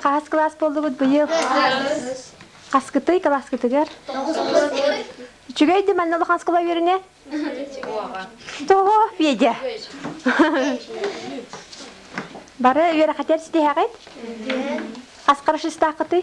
Хаас кылаас буоллубут быйыл. Хаскытый кылааскытыгар? Үчүгэй да манна улахан скала үөрүнэ? Того, Федя. Бары үөрэхэтэр ситиһэҕит? Хас хорошистаахытый?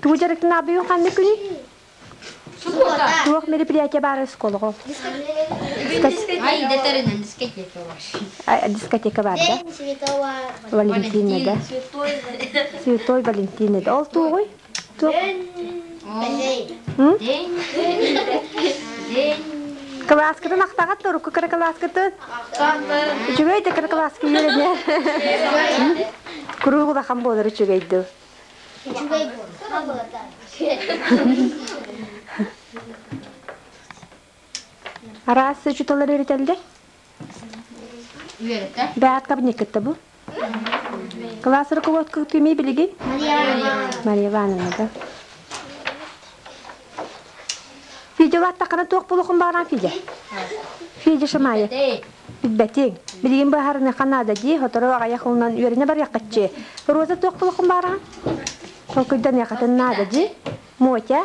Тугу дьарыктан аабыйын ханна күнү? Туох мероприятие баар осколоҕо? Дискотека бар да? Валентинада. Святой Валентинада. Ол тугуй? Кылааскытын ахтаҕат, торукку кара кылааскытын? Үчүгэй да кыра класска үөрэнэ. Куруук улахан буолар үчүгэй дуу? Үчүгэй Араас учуталар үйритэллэр? Үөрэтэ. Бэҕэ кабинеккытта бу? Кылаас руководкаҕыт кимий билигин? Мария Ивановна да. Федя улааттаххына туох булуохун баҕаран Федя? Федя Шамаев. Билбэтиҥ. Билигин быһаарыныаха наада дии, сотору аҕайах ылынан үөрэнэ барыаххаччы. Роза туох булуохун баҕаран? Толкуйданыаххытын наада дии. Мотя,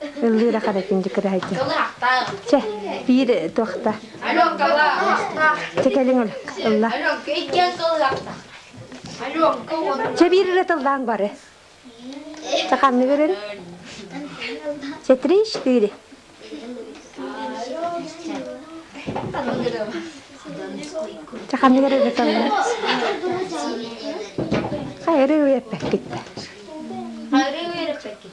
Ыллыыра харатын дьыкырахайдын. Чэ, биир туохта. Чэ, кэлиҥ өлөккө. Ылла. Чэ, биир ыры тыллаан бары. Ханны көрөн? Чэ, триш тыыри. Чэ, ханны көрөн ыры тыллаан. Хайыры үйэппэккитте. Хайыры үйэппэккит.